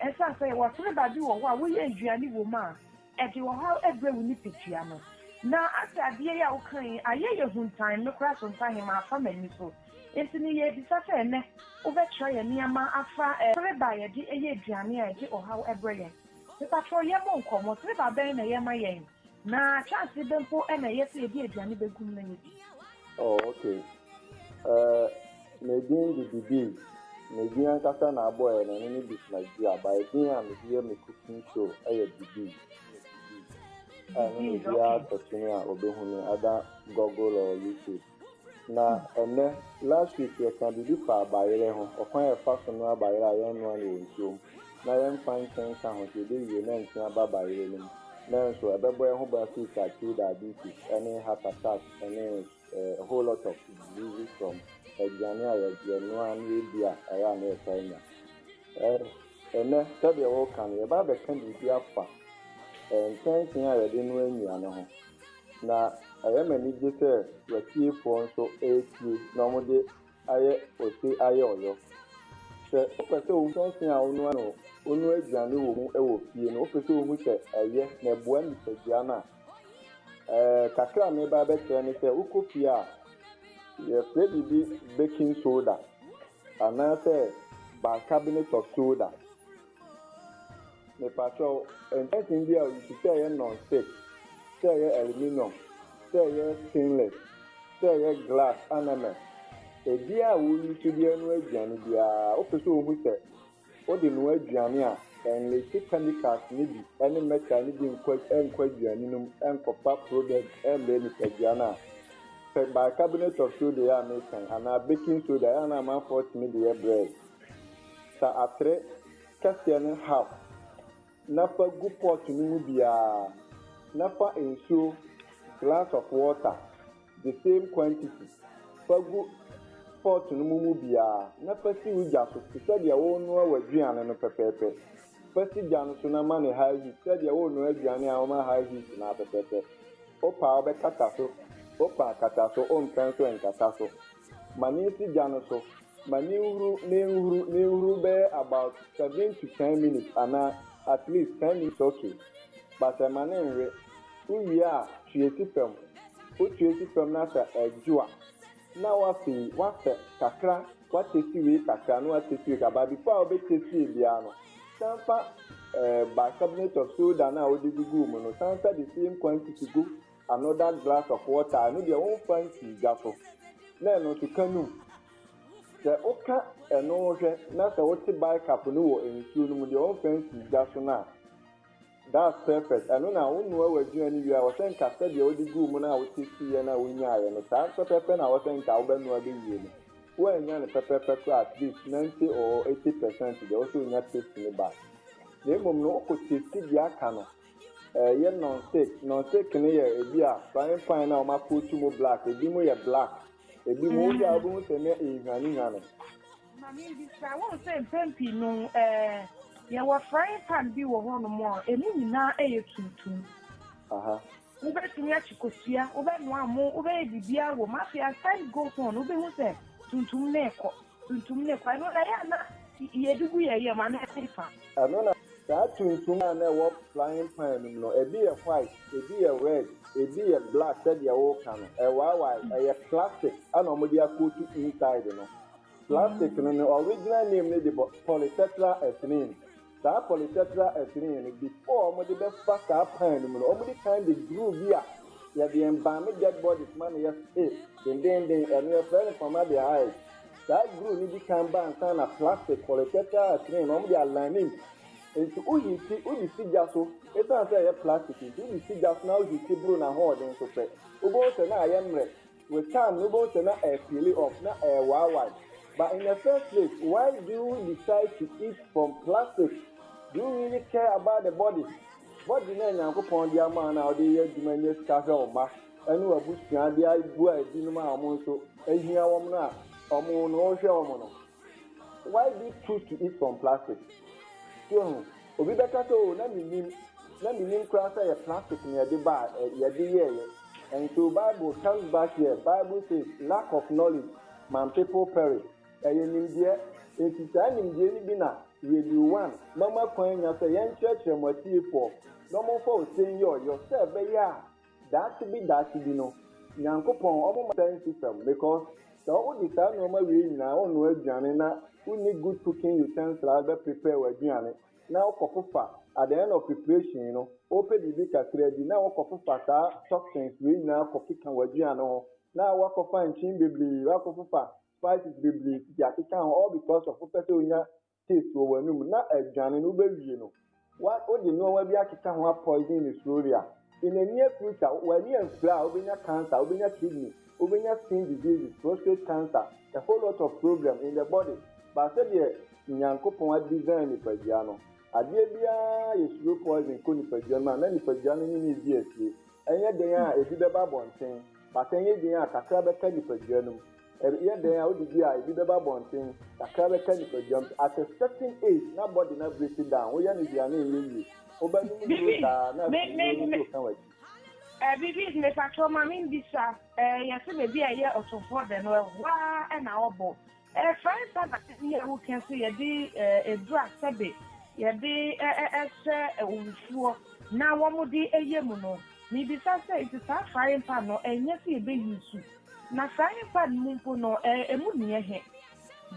Esiane sɛ yɛwɔ sene baabi wɔ hɔ a woyɛ nnuane wom a ɛde ɔhaw brɛ wo nipadua no, na afei adeɛ yi a woka yi ayɛ yɛn huntan, me koraa sontahe mafa m'ani so. Enti no yɛrebisa sɛ ɛnnɛ wobɛkyerɛ yɛn nneɛma afa sereba a yɛde yɛ aduane a ɛde ɔhaw brɛ yɛn. Mepatrɔ yɛmmɔ nkɔmmɔ, sereba bɛn na ɛyɛ ma yɛn? Na ahyɛase bɛ mpo na ɛyɛ sɛ yɛde aduane bɛgu mu na yɛadi? Oh, ok. Eh, me din de Bibie. Me din ankasa na abɔeɛ no, ɛno ne Bismarck Duah, but edin a mede yɛ me cooking show yɛ Bibie. Ɛno na obiara search me a, ɔbɛhu me, either Google or YouTube. Na ɛnnɛ, last week yɛkaa biribi faa bayerɛ ho, ɔkwan a yɛfa so noa bayerɛ a yɛnnoa no wɔ nsuo mu na yɛmfa nkyɛ nka ho sɛ yɛbɛwie na nkyene aba bayerɛ no mu nanso ɛbɛbɔ yɛn ho ban afiri sakre diabetes ne heart attack ne a whole lot of diseases from aduane a yɛnoa na yɛdi a ɛyɛ a na yɛtaa nya. Ɛnnɛ, sɛdeɛ woka no, yɛba abɛka biribi afa nkyɛnsee a yɛde noa nnuane ho. Na ɛyɛ me anigye sɛ w'atiefoɔ nso retie na wɔde ayɛ ose ayɛ ɔyɔ. Sɛ wopɛ sɛ wohu kyɛnsee a wonoa no wonoa aduane wɔ mu wɔ fie no, wopɛ sɛ wohu sɛ ɛyɛ na ɛboa nipadua no a, ɛɛ, kakra a mereba abɛkyerɛ ne sɛ wokɔ fie a, yɛfrɛ biribi baking soda anaasɛ bicarbonate of soda. Mepakyɛw, ntɛtee bi a wusi, sɛ ɛyɛ non-stick, sɛ ɛyɛ aluminium, sɛ ɛyɛ stainless, sɛ ɛyɛ glass anamel, ebiara a woyusu de anoa aduane biara, wopɛ sɛ wuhu sɛ wode noa aduane a, enlise chemicals no bi ne metal no bi nkɔ aduane no mu nkɔfa problem mbrɛ nyipadua no a. Hwɛ bicarbonate of soda yi a meka yi anaa baking soda yi a na amanfoɔ tumi de yɛ bread. Sa atere kɛseɛ no half na fa gu pot no mu biara na fa nsuo glass of water the same quantity fa gu pot no mu mu biara na fa si wo gya so te sɛ deɛ worenoa w'aduane no pɛpɛɛpɛ. Fa si gya no so na ma no high heat sɛ deɛ worenoa aduane a woma high heat no ara pɛpɛɛpɛ. Wopɛ a wobɛkata so, wopɛ a kata so, wompɛ nso nkata so. Ma no nsi gya no so Ma menhuru menhuru menhuru bɛyɛ about seven to ten minutes anaa at least ten minutes ok but ɛma no nwe wo wie a tue si fam wo tue si fam na sɛ ɛdwo a na wafei wasɛ kakra wa testi wei kakra na wa testi wei kakra but before a wobɛ testie biara no san fa eh bicarbonate of soda no a wode guguu mu no san fa the same quantity gu Another glass of water, ɛno deɛ womfa nsii gya so na ɛno nso ka no mu. Sɛ woka ɛno hwɛ na sɛ wote bicarb no wɔ nsuo no mu deɛ womfa nsii gya so no a, that's perfect. Ɛno na wonoa w'aduane no wie a, ɛwɔ sɛ nka sɛdeɛ wode guu mu no a wotastiiɛ no a wonyaaeɛ no, saa pɛpɛpɛ na ɛwɔ sɛ nka wobɛnoa bɛwie no. Woannya no pɛpɛpɛ koraa a, at least ninety or eighty percent deɛ ɛwɔ sɛ wonya taste no bae. Na mmom no, wokɔ tasti deɛ aka no. Ɛyɛ nɔnsek. Nɔnsek no yɛ ebi a frying pan na wɔn akootu mu black. Ebi mu yɛ black. Ebi mu wohwɛ a mm. wobɛhu sɛ na ehwanehwane. Maame bi sa wɔn sɛ mpɛn pii no ɛɛ eh, yɛwɔ frying pan bi wɔ hɔ nom a emu nyinaa ɛyɛ tuntum. Aha. Wobɛtumi akyi kosua, wobɛnoa mo, wobɛyɛ biribiara wɔ mu. Afei as time goes on, wobɛhu sɛ tuntum na ɛkɔ. Tuntum ne kwa. Ɛno na ɛyɛ a na yɛde gu yɛn yam anaa ɛte fa? Ɛno na. Saa tuntum a na ɛwɔ frying pan no mu no, ebi yɛ white, ebi yɛ red, ebi yɛ black sɛdeɛ woreka no. Ɛwaawae. Ɛyɛ plastic na wɔde akootu inside no. Plastic no ne original name no de bɔ polytetra ethylene. Saa polytetra ethylene no, before wɔde bɛfa saa pan no mu no, wɔde kan de duru bi a yɛde embalme dead bodies ma no yɛ eh, dendennden, ɛno yɛfrɛ no formaldehyde. Saa duru no di kan ba ansa na plastic polytetra ethylene no wɔde aline mu. Enti wo hiiti, wode si gya so, esiane sɛ ɛyɛ plastic nti, wode si gya so na wo hiiti boro n'ahoɔden so pɛ, wobɛhu sɛ na ayɛ mmerɛ. With time no wobɛhu sɛ na ɛyɛ peeli off, na ɛyɛ waawaae. But in the first place why do you decide to eat from plastic? Do you really care about the body? Body no a Nyankopɔn de ama wo no a wode reyɛ adwuma nya sika hwɛ wo mma ne w'abusua de aboa ebinom a wɔn nso ahia wɔn no a wɔn no wohwɛ wɔn no, Why this truth to eat from plastic So wahu, obi bɛka sɛ oh na mennim, na mennim koraa sɛ ɛyɛ plastic na yɛde baa ɛ, yɛde yɛeɛ And so Bible comes back here, Bible says lack of knowledge man people perish Ɛyɛ nimdeɛ, enti saa nimdeɛ no bi na Radio One mama kwan nya sɛ yɛnkyerɛkyerɛ mo atiefoɔ na wɔmfa ɔsɛn yi ɔyɔ sɛ ɛbɛyɛ a Daakye bi daakye bi no Nyankopɔn ɔmo ma sɛn system because sɛ wode saa nnoɔma wei nyinaa wo noa aduane na wo nni good cooking utensil a wode bɛ prepare w'aduane na wo kɔ fofa at the end of preparation no wo pɛ biribi kakra di na wo kɔ fofa saa toxins wei nyinaa kɔ keka w'aduane ho na wo akɔ fa nkyen bebree wo akɔ fofa spices bebree pii akeka ho all because of wo pɛ sɛ wo nya taste wɔ w'anum na aduane no wobɛwie no wa wode nnoɔma bi akeka ho a poison no slowly a in the near future w'ani amfira a wobɛnya cancer wobɛnya kidney wobɛnya skin diseases prostate cancer a whole lot of problem in the body but sɛdeɛ Nyankopɔn a design nipadua no adeɛ biara yɛ slow poison kɔ nipadua no mu a na nipadua no ne no redi asie ɛnyɛ den a ɛbi bɛba abɔnten but ɛnyɛ den a kakra bɛka nipadua no mu. Ɛyɛ dɛn a wode bi a ebi bɛba abɔnten, kakra bɛka nipaduam, at a certain age na body no abreak down, woyɛ no hwee a na ɛnyɛ yie. Wobɛnom nnuro saa na afei nnuro no nso reka w'akyi. Eh, Bibi, mepakyɛw ma mimmisa, eh, yɛse baabi a ɛyɛ ɔtofoɔ dɛ no, ɛhɔ ara na wɔbɔ? Eh, fa nsa na ka nea woka sɛ yɛde, eh, adura sɛbe yɛde, eh, eh, eh, hyɛ owufoɔ na wɔde yɛ mu no. Mebisa sɛ, nti saa frying pan no, ɛnyɛ sɛ yɛbɛ use? Na saa nyimpa no mu mpo no, emu nnyɛ he,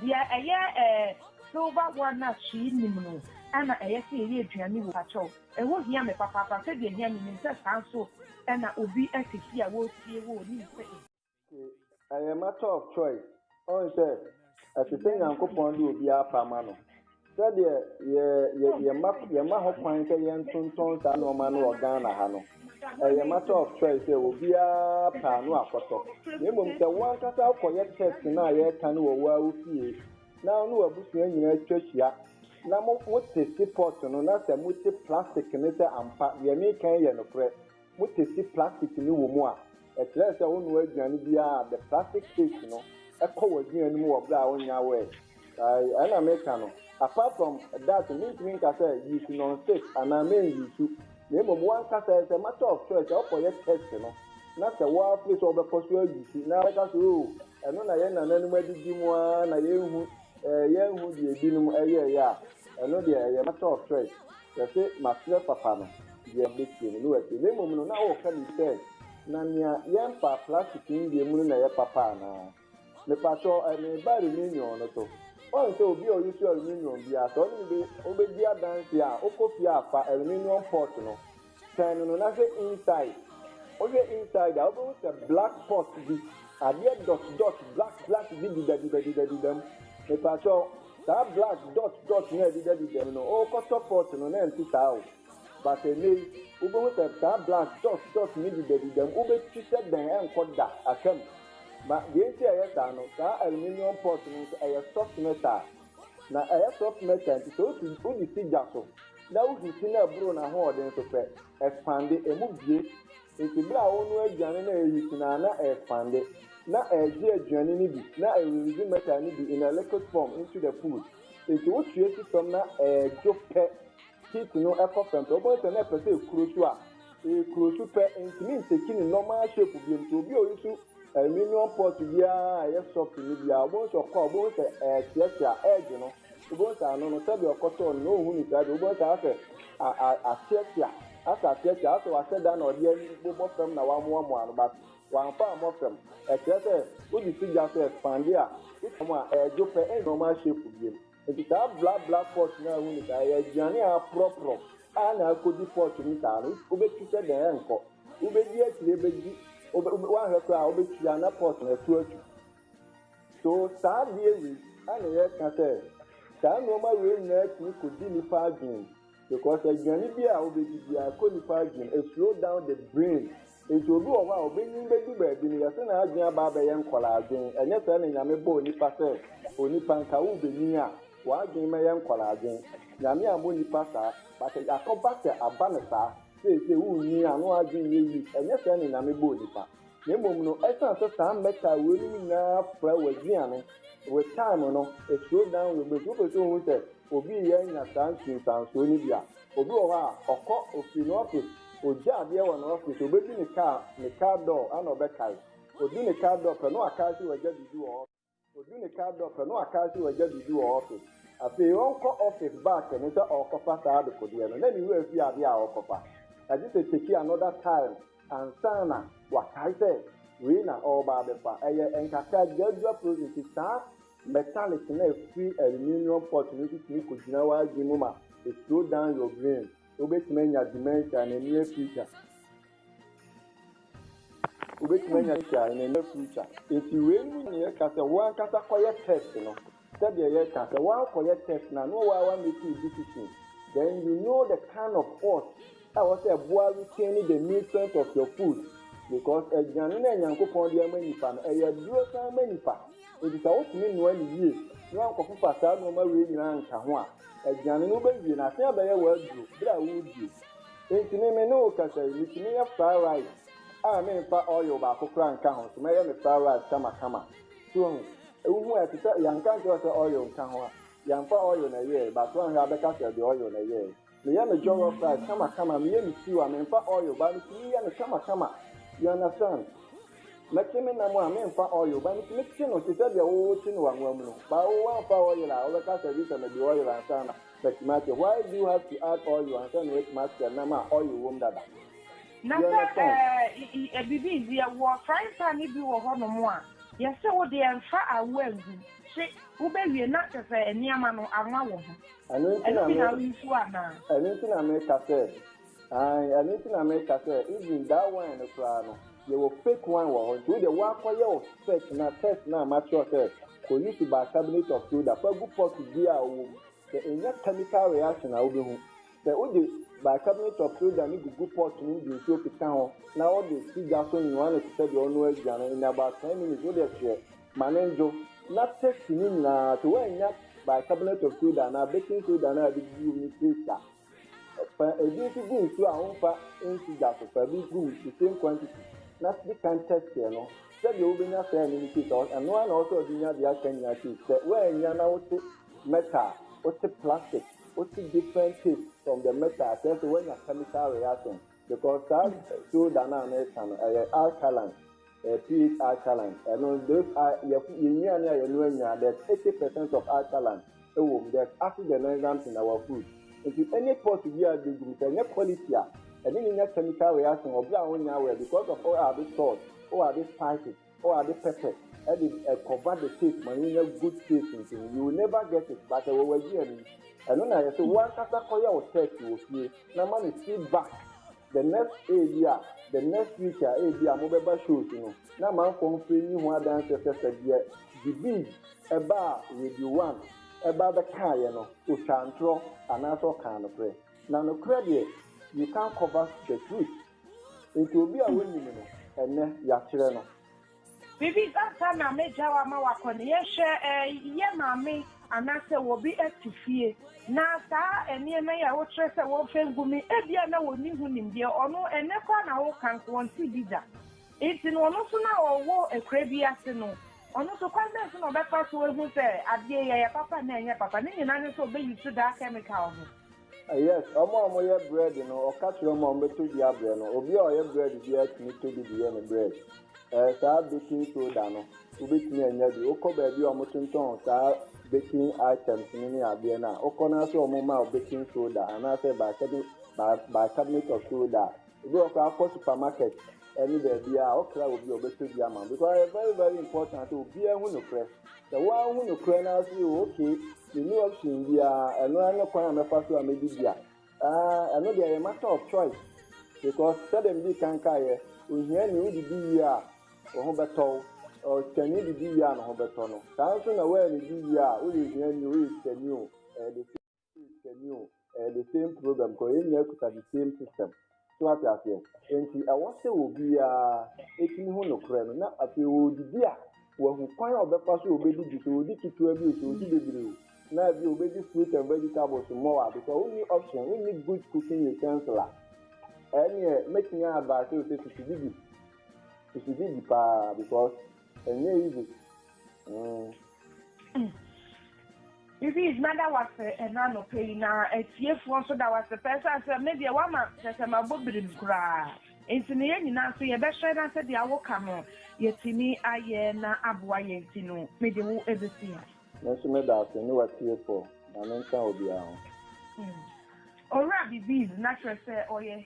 deɛ ɛyɛ silver one no a hwee nnim no na ɛyɛ sɛ yɛyɛ aduane wɔ mu? Pakyɛw, ɛhɔ hia me papaapa, sɛdeɛ ɛhia me nim sɛ saa nso na obi te fie a wɔretie wo a ɔnim sɛ ebi. Ke, I am matter of choice, Ɔn sɛ, ɛsɛ sɛ Nyankopɔn de obiara pa ma no. Sɛdeɛ yɛ, yɛ, yɛma, yɛma ho kwan sɛ yɛntontɔn saa nnoɔma no wɔ Ghana ha no, ɛyɛ matter of choice sɛ obiara pɛ a no akɔtɔ. Na mmom sɛ wo ankasa wokɔyɛ test no a yɛreka no wɔ wo ara wo fie, na wo ne w'abusua nyinaa twa hyia, na mo, mo teste pot no, na sɛ mote plastic no sɛ ampa deɛ mereka yi yɛ nokorɛ, motesi plastic no wɔ mu a, ɛkyerɛ sɛ wonoa aduane biara a, the plastic taste no kɔ w'aduane no mu wɔ bere a wonnya wɛɛ. Ɛɛ, ɛna meka no. Apart from that no, mintumi nka sɛ use non-stick anaa men use, na mmom w'ankasa ɛsɛ matter of choice sɛ wokɔyɛ test no na sɛ wo ara feel sɛ wobɛkɔ so a use na wobɛka sɛ oh, ɛno na yɛn nananom adidi mu ara na yɛnhu, ɛɛ, yɛanhu deɛ ebinom yɛeɛ a, ɛno deɛ ɛyɛ matter of choice. Yɛse maserɛ papa no deɛ bɛtie no na watie na mmom no na ɔreka bi sɛ na nea yɛmpaa plastic yi deɛ mu no na ɛyɛ papa anaa? Mepakyɛw ɛɛ mereba aluminium no so woahu sɛ obi a ɔuse aluminium biara sɛ ɔne me bɛ ɔbɛdi adanseɛ a wokɔ fie a fa aluminium pot no twɛn no no na hwɛ inside wohwɛ inside a wobɛhu sɛ black pot bi adeɛ dot dot black black bi dedadedadedadeda mu mepakyɛw Saa black dot dot no a ɛdeda deda mu no, wokɔtɔ pot no na ɛnte saa o. But ɛnnɛ yi, wobɛhu sɛ saa black dot dot no deda deda mu. Wobɛtwi sɛ dɛn, ɛnkɔ da, aka mu. Ma deɛ nti a ɛyɛ saa no, saa aluminium pot no nso, ɛyɛ soft metal. Na ɛyɛ soft metal nti, sɛ wosi, wode si gya so na wo heat no ɛboro n'ahoɔden so pɛ, expande, ɛmu bue. Ntsi ber a ɔnoa edzian na eeheat no a, na erekpande, na eregye eduane no bi, na eridzi metal no bi in a liquid form into the food. Ntsi wo tue si famu na eredwo pɛ, heat no kɔ famu pɛ, wobohu dɛ nna epɛ dɛ ekuro su a, ekuro su pɛ, enntumi nnteki ne normal shape bio. Ntsi obi a oyi su aluminium pot biara a ɔyɛ soft no biara, wobohu dɛ ɔkɔ a, wobohu dɛ ɛreseasea, edze no. Wobɛhu sɛ ano no, sɛdeɛ ɔkɔtɔɔ no na ɔnhu no saa bio. Wobɛhu sɛ asɛ ateatea, asɛ ateatea, asɛ wasɛ da na ɔde abobɔ fam na wamoamoa no, but wamfa ammɔ fam. Ɛkyerɛ sɛ wode si gya so expande a, wotwa mu a, ɛredwo pɛ, ɛnyɛ ɔmaa shape bio. Nti saa black black pots no a wohu no saa, ɛyɛ aduane a aporɔporɔ a na akɔdi pot no saa no, wobɛtu sɛ dɛn? Ɛnkɔ. Wobɛdi akyire bɛdi, woanhwɛ koraa a wobɛtua na pot no ato atu. So saa adeɛ wei na yɛka sɛ saa nnoɔma wei nyinaa tumi kɔdi nipa adwene because aduane bi a wobɛdi biara kɔ nipa adwene, it slow down the brain. Nti obi wɔ hɔ a ɔbɛnyin bɛdu baabi no yɛse n'adwene aba abɛyɛ nkwadaa adwene, ɛnyɛ sɛɛ na Nyame bɔɔ nipa sɛ onipa nka wobɛnyin a w'adwene mɛyɛ nkwadaa adwene. Nyame ammɔ nipa saa but akɔba sɛ aba no saa seesei wonyin a na w'adwene nyɛ weak, ɛnyɛ sɛɛ na Nyame bɔɔ nipa. Na mmom no, esiane sɛ saa mmɛka a weinom nyinaa fra w'adua no, with time no, it slows down your brain. So wopɛ sɛ ohu sɛ obi reyɛ anya saa nsunsuansoɔ no bi a, obi wɔ hɔ a, ɔkɔ, ofiri ne office, ogya adeɛ wɔ ne office, obɛdu ne car, ne car door, ɛna ɔbɛkae. Odu ne car door pɛ, na wakae sɛ wagya biribi wɔ office. Odu ne car door pɛ no waka se wagya biribi wɔ office. Afei ɔnkɔ office back no sɛ ɔɔkɔfa saa adekodeɛ no na ne wura fie adeɛ a ɔɔkɔfa. Agye sɛ take another time ansa na wakae sɛ wei na ɔɔba abɛfa. Ɛyɛ nkaka gyadwa prose nti saa metallic no a ɛfiri aluminium pot no nso tumi kɔgyina w'adwene mu ma it slow down your brain. Wobɛtumi anya dementia na ɛnni afirika. Wobɛtumi anya sika in the near future. Nti wei mu nyinaa ɛka sɛ wo ankasa kɔyɛ test no. Sɛdeɛ yɛka sɛ woankɔyɛ test no a na woa woa make wo decision. Then you know the kind of oats a ɛwɔ sɛ ɛboa retain the nutrient of your food. Because aduane no a Nyankopɔn de ama nipa no ɛyɛ aduro san ma nipa. Nti sɛ wotumi noa no yie na woankɔfofa saa nnoɔma wei nyinaa anka ho a, aduane no wobɛwie no asan abɛyɛ w'aduro berɛ a woredie. Enti me me ne wo kasa yi, metumi yɛ fried rice a menfa oil baako koraa nka ho so, mɛyɛ me fried rice kama kama. So wahu? Wohu a, ɛte sɛ yɛanka ankyerɛ wo sɛ oil nka ho a, yɛamfa oil na ɛyɛe, but woanhwɛ a wobɛka sɛ ɛde oil na ɛyɛe. Meyɛ me jollof rice kama kama, meyɛ me stew a menfa oil, but metumi yɛ no kama kama. You understand? Mɛkye me nam a menfa oil, but metumi kye no te sɛ deɛ wo wokye no w'anwa mu no, but wo woamfa oil a, wobɛka sɛ gye sɛ mede oil ansa na. But Master, why do you have to add oil ansa na watumi asra nam a oil wom dada? Na sɛ ɛɛ biribi nti yɛwɔ frying pan no bi wɔ hɔnom a, yɛse wo deɛ mfa awoa ngu, hye, wobɛwie na kyerɛ sɛ nneɛma no anwa wɔ ho. Ɛno bi na woresu anaa? Ɛno nti na meka sɛ Aane ɛno nti na me ka sɛ even that wine no koraa no yɛwɔ fake wine wɔ hɔ nti wo deɛ woakɔ yɛ wo search na test no a makyerɛw sɛ kɔ use bicarbonate of soda fa gu pot biaa a ɔwɔ mu sɛ ɛnya chemical reaction a wobɛhu sɛ wode bicarbonate of soda no gugu pot no mu de nsuo keka ho na wode si gya so nnoa no te sɛ deɛ ɔnoa aduane in about 10 minutes wo deɛ hyeɛ ma no ndwo na test ne nyinaa sɛ woannya bicarbonate of soda anaa baking soda no a yɛde gugu mu no taste a. Fa ebi nso gu nsu a womfa nsi gya so. Fa bi gu mu, the same quantity, na di kan test yɛ no. Sɛdeɛ wobɛnya saa ani no taste a, ɛno ara na ɛwɔ sɛ wode nya deɛ aka nyinaa taste. Sɛ woannya na wote metal a, wote plastic, wote different taste from the metal a, kyerɛ sɛ woanya chemical reactions. Because saa soda no a na ɛka no ɛyɛ alkaline ɛyɛ pH alkaline ɛno those yɛ nnuane a yɛn no anya there's eighty percent of alkaline ɛwɔ mu there's acid and enzymes in our food nti any pot bi a bɛ gum sɛ ɛnyɛ quality a ɛne ne nya chemical reaction wɔ bere a wonya awɛ because of all our this salt all our this spices. Oh ade pɛpɛ ɛde ɛkɔva the taste ma yɛnya good taste nso no you will never get it but ɛwɔ w'aduane mu ɛno na yɛ sɛ w'ankasa kɔyɛ wo test wɔ fie na ma me feed back the next ebi a the next week a ebi a mobɛba shows no na ma nkɔ mfiri nni ho adanseɛ sɛ sɛ deɛ Dibib ɛbaa radio one ɛbaa bɛkaaeɛ no ɔtwaa ntorɔ anaasɛ ɔkaa nokorɛ na nokorɛ deɛ you can't cover the truth. Nti obi a wonim no ɛnnɛ, yɛakyerɛ no. Biribi ansa na mɛgyaw ama wakɔ no, yɛhwɛ yɛn maame anaasɛ obi te fie, na saa nneɛma yi a wokyerɛ sɛ wɔmfa ngu me, ebia na onni ho nimdeɛ. Ɔno, ɛnnɛ koraa na woreka nko, wɔnte bi da. Nti no, ɔno nso na ɔwɔ akuraa bi ase no, ɔno nso kwan bɛn so na ɔbɛfa so ahu sɛ adeɛ yi, ɛyɛ papa anaa ɛnyɛ papa? Ne nyinaa ne sɛ ɔbɛyi so daa kɛmikal no. Yes, ɔmo a ɔmo yɛ brɛɛd no, ɔka kyerɛ ɔmo a ɔmo bɛ tɔ bi abrɛ no. Obi a ɔyɛ brɛɛd biara tumi tɔ bi de yɛ ne brɛɛd. Ɛɛ, saa baking soda no, wo bɛtumi anya bi. Wo kɔ baabi a ɔmo tontɔn saa baking items no ne adeɛ no a, wo kɔ no ara sɛ ɔmo ma wo baking soda, anaasɛ bicarbonate of soda a, Ebi wɔ hɔ koraa kɔ supermarket ɛne baabiaa ɔkra obi a ɔbɛtɔ bi ama wo because ɛyɛ very very important sɛ obiaa hu nokorɛ. Sɛ woanhu nokorɛ no ara so yɛ ok menni option biaa ɛno ara ne kwan a mɛfa so a mɛdidi a aah ɛno deɛ ɛyɛ matter of choice because sɛdeɛ medii kan kaeɛ ohiani wodidi wie a wo ho bɛtɔ wo, ɔsikani didi wie a ne ho bɛtɔ no saa nso na woannidi wie a woyɛ ohiani o woyɛ sikani o ɛyɛ the same. Sɛmi o ɛyɛ the same program because yɛn nyinaa kuta the same system so ate aseɛ nti ɛwɔ sɛ obiara ɛtumi ho nokorɛ no na afei ɔredidi a wahu kwan a ɔbɛfa so ɔbɛdidi sɛ ɔdi ketewa bi o sɛ ɔdi bebree o na bi ɔbɛdi fruit and vegetables mmɔɔ a because wonni option wonni good cooking utensil a ɛneɛ mɛtumi advice o sɛ susu didi susu didi paa because Ɛnyɛ easy. Mm. Louise, mada wo ase ɛna anɔpa yi na atiefoɔ nso da wo ase pɛ sɛ sɛ me deɛ woama kyɛ sɛ mabɔ birim koraa nti ne yɛn nyinaa nso yɛbɛhwɛ na sɛ deɛ awoka no yɛtumi ayɛ na aboa yɛn nti no mede wo ɛbɛsi ha. Me nso meda ase ne w'atiefoɔ. Nyame nka obiara ho. Mm. Owura Bibiz na kyerɛ sɛ ɔyɛ.